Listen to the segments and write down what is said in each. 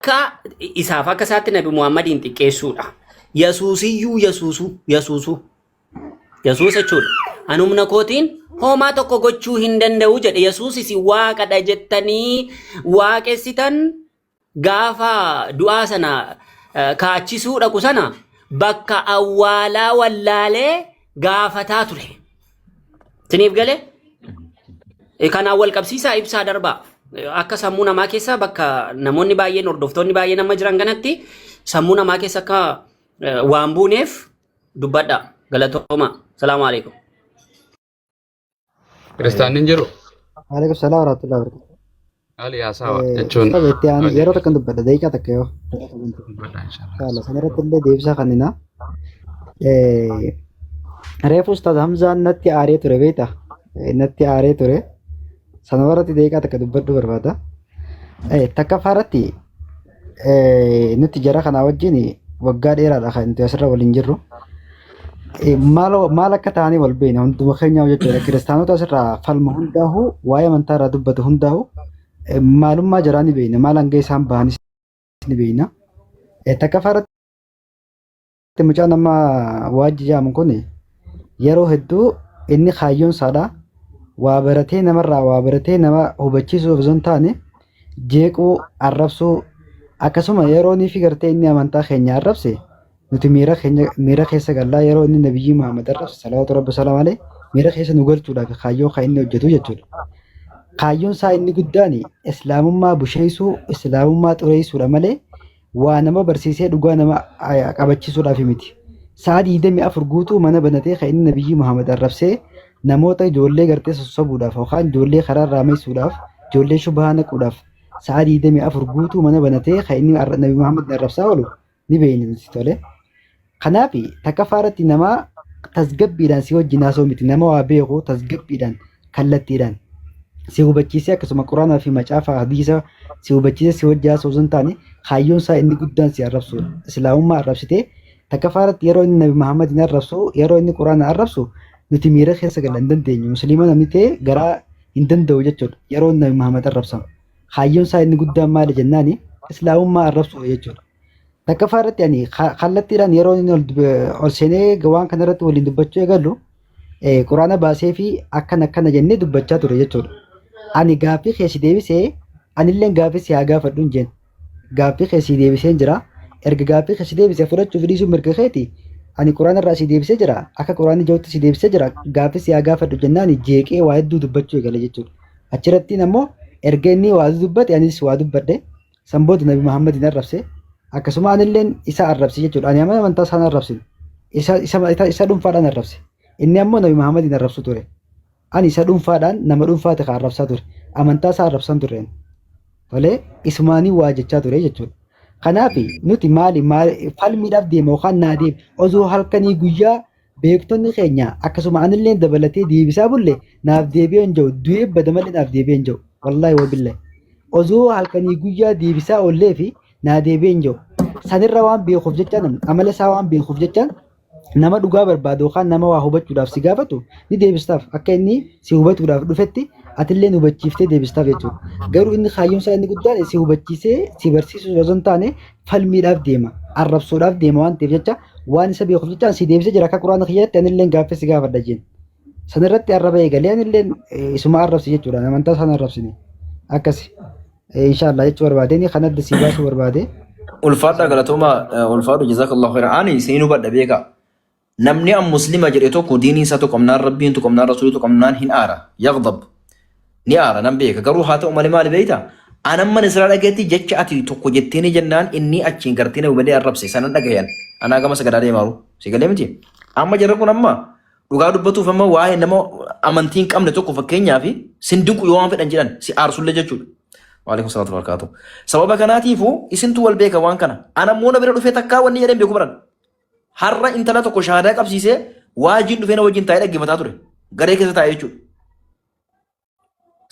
Akka isaaf akka isaatti Nabi Muhammadiin xiqqeessuudha. Yasuusiyyuu yasuusuu yasuusuu Yesuus jechuudha. An humna kootiin hoomaa tokko gochuu hin danda'u jedhe. Yesuus isin waaqadha jettanii waaqessitan gaafa du'aa sana eh, kaachisuu dhaqu sana bakka awwaalaa wallaalee gaafataa ture. Siniif galee Eh, kanaan wal qabsiisaa ibsaa darbaa Eh, akka sammuu namaa keessa bakka namoonni baay'een hordoftoonni baay'een amma jiran kanatti sammuu namaa keessa akka eh, waan buuneef dubbadha galatooma salaamu alaikum Kiristaanni hin jiru. Waalaikum salaam warahmatullahi wabarakatuh. Haali haasawa Eh, jechuun Ustaaza itti aanu yeroo hojjetu. takkan dubbadha daqiiqaa takka yoo. Dubbadha inshallah. Inshallah san irratti illee deebisaa kennina. Eh, Reefu Ustaaz Hamzaan natti aaree ture beekta. Eh, Natti aaree ture. Sana irratti daqiiqaa takka dubbadhuu barbaada. Eh, Takkaffaa irratti Eh, Nuti jara kanaa wajjin waggaa dheeraadha kan nuti asirra waliin jirru. Eh, Maal maal akka ta'anii wal beekna hunduma keenyaa jechuudha. Kiristaanota asirraa falma hundaa'u waa'ee amantaa irraa dubbatu hundaa'u eh, maalummaa jaraa ni beekna. Maal hanga isaan bahanis ni beekna. Eh, Takkaffaa irratti Mucaan amma waajji jaamu kun yeroo hedduu inni kaayyoon isaadha. Waa baratee namarraa waa baratee nama hubachiisuu osoo hin taane jeequu, arrabsuu akkasuma yeroo inni fi gartee inni amantaa keenya arrabse nuti miira keenya miira keessa gallaa yeroo inni nabiyyii Muhammad arrabse salawaatu rabbi salaam alee miira keessa nu galchuudhaaf kaayyoo kan inni hojjetu jechuudha. Kaayyoon isaa inni guddaan islaamummaa busheessuu, islaamummaa xureessuudha malee waa nama barsiisee dhugaa nama aya- qabachiisuudhaaf miti. Sa'a 24 guutuu mana banatee kan inni Nabiyyii Muhammad arrabsee namoota ijoollee gartee sossobuudhaaf yookaan ijoollee karaa irraa meessuudhaaf ijoollee shubhaa naquudhaaf sa'a 24 guutuu mana banatee kan inni arra- Nabi Muhammad arrabsaa oolu ni beeyna nuti tole. Kanaaf takkaffaa irratti nama tasgabbiidhaan si wajjin haasoo miti nama waa beeku tasgabbiidhaan kallattiidhaan si hubachiisee akkasuma quraanaa fi macaafa hadiisa si hubachiisee si wajjin haasoo osoo hin taane kaayyoon isaa inni guddaan si arrabsuudha. Islaamummaa arrabsitee takkaffaa irratti yeroo inni Nabi Muhammadiin arrabsu yeroo inni quraana arrabsu nuti miira keessa gala hin dandeenyu musliima namni ta'e garaa hin danda'u jechuudha yeroo inni Nabi Muhammad arrabsamu. Kaayyoon isaa inni guddaan maali jennaani islaamummaa arrabsuudha jechuudha. Takkaffaa irratti ani ka- kallattiidhaan yeroo inni ol dub- ol seenee waan kana irratti waliin dubbachuu eegalu eh, quraana baasee fi akkana akkana jennee dubbachaa ture jechuudha. Ani gaaffii kee si deebisee anillee gaaffii si haa gaafadhu hin jeen. Gaaffii kee si deebisee hin jira. Erga gaaffii kee si deebisee fudhachuu fi dhiisuu mirga keeti. Ani quraana irraa si deebisee jira. Akka quraanni jirutti si deebisee jira. Gaaffii si haa gaafadhu jennaan jeeqee waa hedduu dubbachuu eegale jechuudha. Achirrattiin ammoo erga inni waa dubbate anis waa dubbadhe. San booda Nabi Muhammadiin arrabse. Akkasuma anilleen isa arrabse jechuudha. Ani amana amantaa isaan arrabsin. Isa, isa, isa, isa dhuunfaadhaan arrabse. Inni ammoo Nabi Muhammadiin arrabsu ture. Ani isa dhuunfaadhaan nama dhuunfaati kan arrabsaa ture. Amantaa isaa arrabsaan tureen. Tolee, isumaanii waa jechaa ture jechuudha. Kanaaf nuti maali, maali falmiidhaaf deema yookaan naa deema. Osoo halkanii guyyaa Beektonni keenya akkasuma anillee dabalatee deebisaa bulle naaf deebi'ee hin jiru. Du'ee bada malee naaf deebi'ee hin jiru. Wallaahi wabillahi. Osoo halkanii guyyaa deebisaa oollee fi naa deebi'ee hin jiru. Sanirra waan beekuuf jechaan amala isaa waan beekuuf jechaan nama dhugaa barbaadu yookaan nama waa hubachuudhaaf si gaafatu ni deebistaaf akka inni si hubatuudhaaf dhufetti atillee hubachiiftee deebistaaf jechuudha. Garuu inni kaayyoon isaa inni guddaan si hubachiisee si barsiisuu osoo hin taane falmiidhaaf deema arrabsoodhaaf deema waan ta'eef jecha waan isa beekuuf jecha si deebisee jira akka quraana kiyyaatti anillee gaaffii si gaafadha jeen sanirratti arraba eegalee anillee isuma arrabsi jechuudha amantaa isaan arrabsine akkasi inshaallah jechuu barbaadeen kan adda si baasuu barbaade. Ulfaadha galatoomaa ulfaadhu jazakallahu khairan ani isin hubadha beekaa Namni an muslima jedhe tokko diinii isaa tuqamnaan rabbiin tuqamnaan rasuulii tuqamnaan hin aara yaghdab ni aara nan beeka garuu haa ta'u malee maali beeyta an amman israa dhageetti jecha ati tokko jettiinii jennaan innii achiin gartee na hubalee arrabse sanan dhagayan anaa gama sagadaa deemaaru si galee miti amma jarra kun amma dhugaa dubbatuuf amma waa'ee nama amantii hin qabne tokko fakkeenyaa fi sin dinqu yoo waan fedhan jedhan si aarsullee jechuudha. Waalaikum salaatu barakaatu. Sababa kanaatiifuu isintu wal beeka waan kana. Ana immoo na bira dhufee takkaa wanni jedhan beeku baran. Har'a intala tokko shahaadaa qabsiisee waajiin dhufee na wajjin taa'ee dhaggeeffataa ture. Garee keessa taa'ee jechuudha.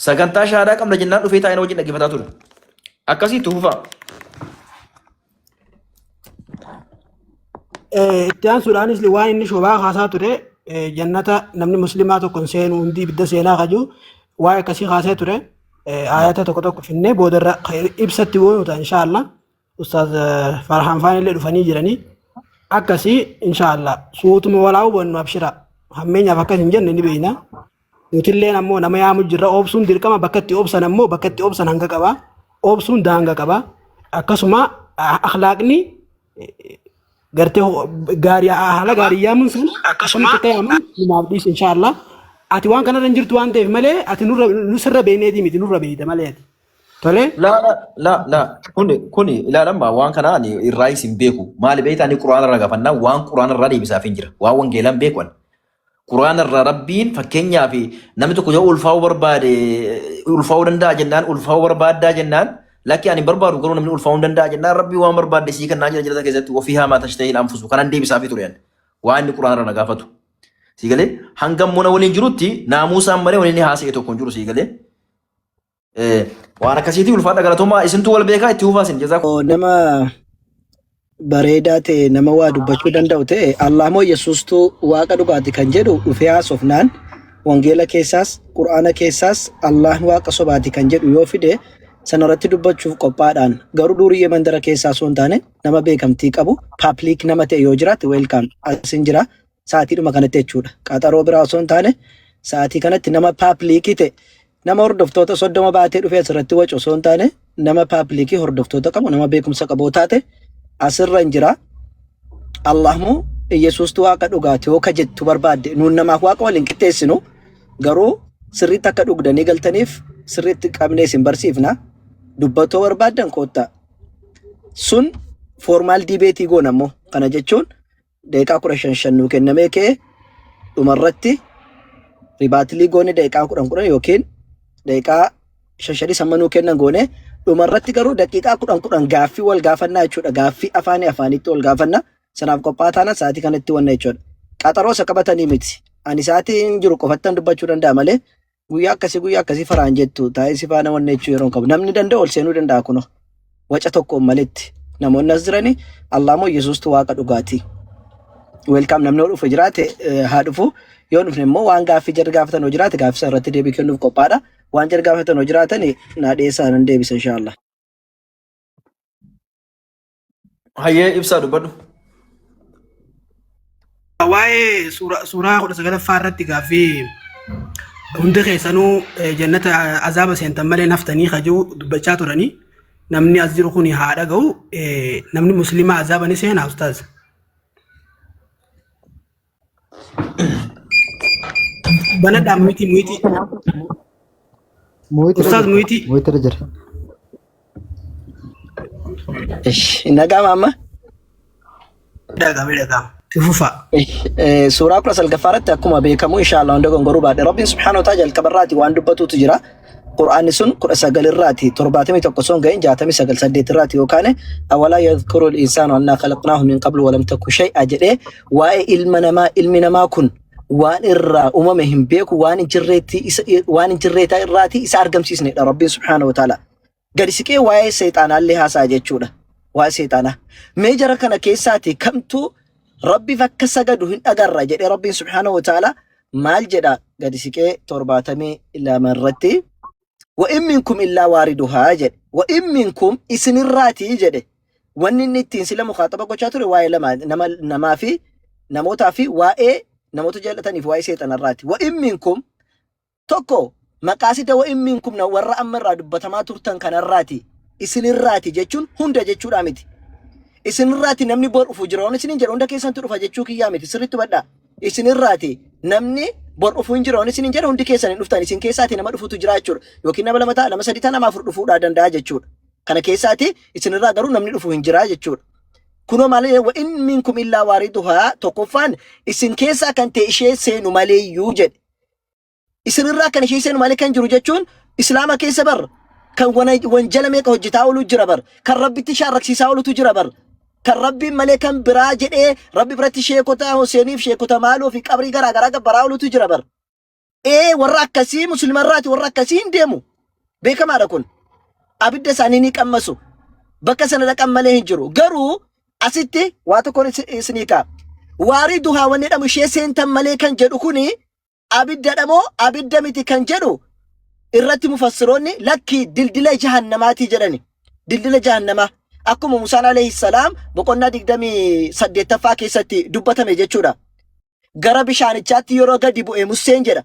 Sagantaa shahaadaa qabna jennaan dhufee taa'ee na wajjin dhaggeeffataa ture. Akkasii itti fufaa. Eh, itti aansuudhaanis waan inni shobaa kaasaa ture eh, jannata namni muslimaa tokko hin seenu hundi ibidda seenaa kaju waan akkasii kaasee ture eh, ayata tokko tokko finnee boodarra eh, ibsatti bu'uuta inshaallah Ustaaz eh, Farhaan Faan illee dhufanii jiranii akkasii inshaallah suutuma walaa hubannu abshira hammeenyaaf akkas hin jenne ni beekna nutilleen ammoo nama yaamu jirra obsuun dirqama bakka itti obsan ammoo bakka itti obsan hanga qaba obsuun daanga qaba akkasuma ah, akhlaaqni gartee ho- gaarii haala gaarii yaamuun sun akkasuma ta'e ammoo numaaf dhiisu inshaallah ati waan kanarra hin jirtu waan ta'eef malee ati nurra nusirra beekneetii miti nurra beekta malee ati Tolee? La la la la kuni kuni ilaalamma waan kana ani irraa isin beeku maali beekta ani quraana irraa gaafannaa waan quraana irraa deebisaaf hin jira waan wangeelaan beeku ani quraana irraa rabbiin fakkeenyaaf namni tokko yoo ulfaa'uu barbaade ulfaa'uu danda'a jennaan ulfaa'uu barbaaddaa jennaan lakki ani hin barbaadu garuu namni ulfaa'uu hin danda'a jennaan rabbii waan barbaadde sii kennaa jira jirata keessatti ofii haamaa tashtahii anfusu kanan deebisaafii ture ani waan inni quraana irraa na gaafatu sii galee hangam mona waliin jirutti naamuusaan malee waliin haasa'e tokko hin jiru sii galee Eh, Waan akkasiitii ulfaadha galatoomaa isintu wal beekaa itti hufaa isin jazaa Oo, nama bareedaa ta'e nama waa dubbachuu danda'u ta'e Allah moo Yesuustu waaqa dhugaati kan jedhu dhufee haasofnaan wangeela keessaas qur'aana keessaas Allah waaqa sobaati kan jedhu yoo fide sanarratti dubbachuuf qophaadhaan garuu durii mandara keessaa osoo hin taane nama beekamtii qabu paaplik nama ta'e yoo jiraate weelkaam asin jira Sa'aatiidhuma kanatti jechuudha. Qaxaroo biraa osoo hin taane sa'aatii kanatti nama paapliikii ta'e nama hordoftoota soddoma baatee dhufee asirratti wacu osoo hin taane nama paapliikii hordoftoota qabu nama beekumsa qabu taate asirra hin jira. Allahmu Iyyasuustu waaqa dhugaati yoo ka jettu barbaadde nuun namaaf waaqa waliin qixxeessinu garuu sirriitti akka dhugdanii galtaniif sirriitti qabnee isin barsiifna. Dubbatoo barbaaddan koottaa. Sun formaal diibeetii goona immoo kana jechuun Daqiiqaa kudha shan shan nuu kennamee kee dhumarratti ribaatilii goone daqiiqaa kudhan kudhan yookiin daqiiqaa shan shanis amma nuu kennan goone dhumarratti garuu daqiiqaa kudhan kudhan gaaffii wal gaafannaa jechuudha. Gaaffii afaanii afaanitti wal gaafanna. Sanaaf qophaa'aa taana sa'aatii kanatti wanna jechuudha. Qaxaroo isa qabatanii miti. Ani sa'aatii hin jiru qofattan dubbachuu danda'a malee guyyaa akkasii guyyaa akkasii faraan jettu taa'ee si faana wanni jechuu yeroo hin qabu namni danda'a ol seenuu danda'a kunoo waca tokkoon malitti namoonni as jiranii Allah moo Yesuustu waaqa dhugaati weelkaam namni yoo dhufe jiraate eh, haa dhufu yoo dhufne immoo waan gaaffii jarri gaafatan yoo jiraate gaaffii sana irratti deebii kennuuf qophaadha waan jarri gaafatan yoo jiraatan naa dhiyeessaa nan deebisa inshaallah. Hayyee ibsaa dubbadhu. Waa'ee suuraa suuraa kudha sagalaffaa irratti gaaffii hundi keessanuu eh, jannata azaaba seentan malee naftanii kajuu dubbachaa turanii namni as jiru kun haa dhaga'u eh, namni musliimaa azaaba ni seenaa ustaaz. Banadhaan miti miti. Mooyitti Ustaaz Mooyitti. Mooyitti irra jira. Ish, hin dhaga'ama amma? Dhagame dhagama. Ifufa. Ish, eh, Suuraa kudha salgaffaa irratti akkuma beekamu inshaallah hunda gongoruu baadhe rabbiin subhaana wa ta'ala jalqaba irraati waan dubbatuutu jira. Qur'aanni sun kudha sagal irraati torbaatamii tokko sun ga'in jaatamii sagal saddeet irraati yookaan awalaa yadhkuru insaanu annaa khalaqnaahu min qablu walam takku shay'a jedhee waa'ee ilma namaa ilmi namaa kun waan irraa uumame hin beeku waan hin jirreetti isa waan hin jirreetaa irraati isa argamsiisnedha rabbiin subhaanahu wa ta'ala gadi siqee waa'ee seexaanaallee haasa'a jechuudha waa'ee seexaanaa mee jara kana keessaati kamtu rabbiif akka sagadu hin agarre jedhee rabbiin subhaanahu wa ta'ala maal jedha gadi siqee torbaatamii lama irratti wa in minkum illaa waariduhaa jedhe wa in minkum isinirraatii jedhe wanni inni ittiin sila mukaaxaba gochaa ture waa'ee lama nama namaa fi namootaa fi waa'ee namoota jaallataniif waa'ee seexanarraati wa in minkum tokko maqaasida wa in minkum na warra amma irraa dubbatamaa turtan kanarraati isinirraati jechuun hunda jechuudhaa miti isinirraati namni bor dhufu jira waan isinin jedha hunda keessantu dhufa jechuu kiyyaa miti sirriitti hubadhaa isin irraati namni bor dhufuu hin jiru isin hin jedhu hundi keessan hin dhuftan isin keessaati nama dhufutu jira jechuudha yookiin nama lama ta'a nama sadii ta'a nama afur dhufuudhaa danda'a jechuudha kana keessaati isin irraa garuu namni dhufu hin jira jechuudha kunoo maal jedhe wa'in minkum illaa waariduhaa tokkoffaan isin keessaa kan ta'e ishee seenu maleeyyuu jedhe isinirraa kan ishee seenu malee kan jiru jechuun islaama keessa bar kan wana- wanjala meeqa hojjetaa oolu jira bar kan rabbitti shaarraksiisaa oolutu jira bar kan rabbiin malee kan biraa jedhee rabbi biratti sheekota hoseeniif sheekota maaloo fi qabrii garaa garaa gabbaraa oolutu jira bar ee warra akkasii musliima irraati warra akkasii hin deemu beekamaadha kun abidda isaanii ni qammasu bakka sana dhaqan malee hin jiru garuu asitti waa tokkoon is- isinii kaa waarii duhaa wanni jedhamu ishee seentan malee kan jedhu kuni abiddadha moo abidda miti kan jedhu irratti mufassiroonni lakkii dildila jahannamaatii jedhani. Dildila jahannamaa akkuma Musaan alayhi salaam boqonnaa 28ffaa keessatti dubbatame jechuudha. Gara bishaanichaatti yeroo gadi bu'e Museen jedha.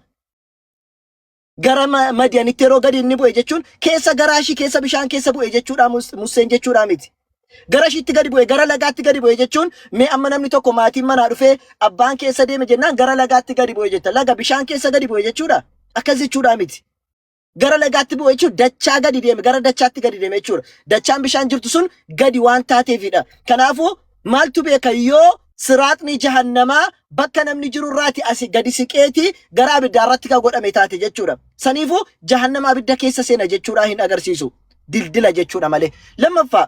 Gara ma- Madiyanitti yeroo gadi inni bu'e jechuun keessa garaa ishii keessa bishaan keessa bu'e jechuudha Mus- Museen jechuudha miti. Gara ishiitti gadi bu'e, gara lagaatti gadi bu'e jechuun mee amma namni tokko maatiin manaa dhufee abbaan keessa deeme jennaan gara lagaatti gadi bu'e jetta. Laga bishaan keessa gadi bu'e jechuudha. Akkas jechuudhaa miti. Gara lagaatti bu'e jechuun dachaa gadi deeme, gara dachaatti gadi deeme jechuudha. Dachaan bishaan jirtu sun gadi waan taateefidha. Kanaafuu maaltu beeka yoo siraaxni jahannamaa bakka namni jiru irraati asi gadi siqeeti gara abiddaa irratti kan godhame taate jechuudha. Saniifuu jahannama abidda keessa seena jechuudhaa hin agarsiisu. dildila jechuudha malee. Lammaffaa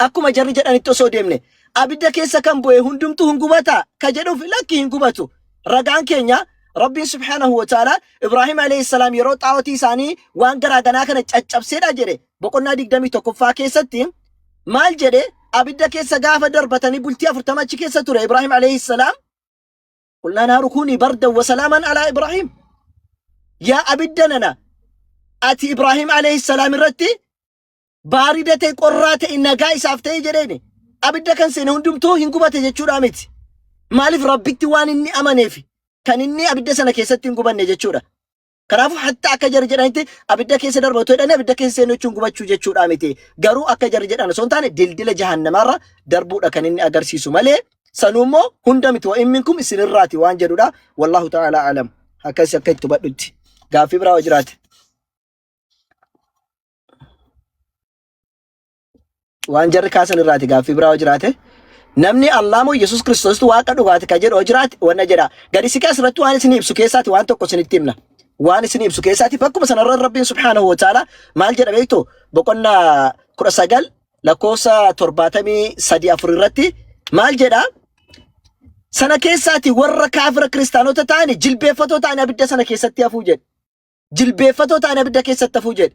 akkuma jarri jedhanitti osoo deemne abidda keessa kan bu'e hundumtuu hin gubataa ka jedhuuf lakki hin gubatu. Ragaan keenya Rabbiin subhaanahu wa ta'ala Ibraahim alayhi salaam yeroo xaawotii isaanii waan garaa ganaa kana caccabseedha jedhe boqonnaa 21ffaa keessatti maal jedhe abidda keessa gaafa darbatanii bultii 40 achi keessa ture Ibraahim alayhi salaam Qulnaa naaru kuunii bardan wa salaaman alaa Ibraahiim. Yaa abidda nana ati Ibraahiim alayhi salaam irratti baarida ta'e qorraa ta'e nagaa isaaf ta'e jedheeni. Abidda kan seene hundumtuu hin gubate jechuudha miti. Maaliif rabbitti waan inni amaneef kan inni abidda sana keessatti hin gubanne jechuudha. Kanaafuu hatta akka jarri jedhanitti abidda keessa darba otoo jedhanii abidda keessa seenuu jechuun gubachuu jechuudha miti. Garuu akka jarri jedhan osoo hin taane dildila jahannamaarra darbuudha kan inni agarsiisu malee sanuu immoo hunda miti wa'in minkum isinirraati waan jedhudha. Wallahu ta'ala alam. Akkasi akka itti hubadhutti. Gaaffii biraa yoo jiraate. waan jarri kaasan irraati gaaffii biraa yoo jiraate namni Allah moo Yesuus Kiristoositu waaqa dhugaati kan jedhu yoo jiraate wanna jedha gadi siqee asirratti waan isin ibsu keessaati waan tokko isinitti himna waan isin ibsu keessaati bakkuma sanarra rabbiin subhaanahu wa ta'ala maal jedha beektu boqonnaa kudha sagal lakkoofsa torbaatamii sadii afur irratti maal jedha sana keessaati warra kaafira kiristaanota ta'ani jilbeeffatoo ta'ani abidda sana keessatti hafuu jedhe jilbeeffatoo ta'ani abidda keessatti hafuu jedhe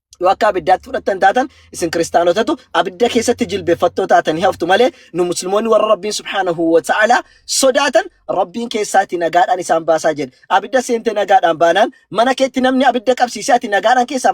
yoo akka abiddaatti fudhattan taatan isin kiristaanotatu abidda keessatti jilbeeffattoo taatan hin haftu malee nu musliimoonni warra rabbiin subhaanahu wa ta'ala sodaatan rabbiin keessaati nagaadhaan isaan baasaa jedhe abidda seente nagaadhaan baanaan mana keetti namni abidda qabsiise ati nagaadhaan keessaa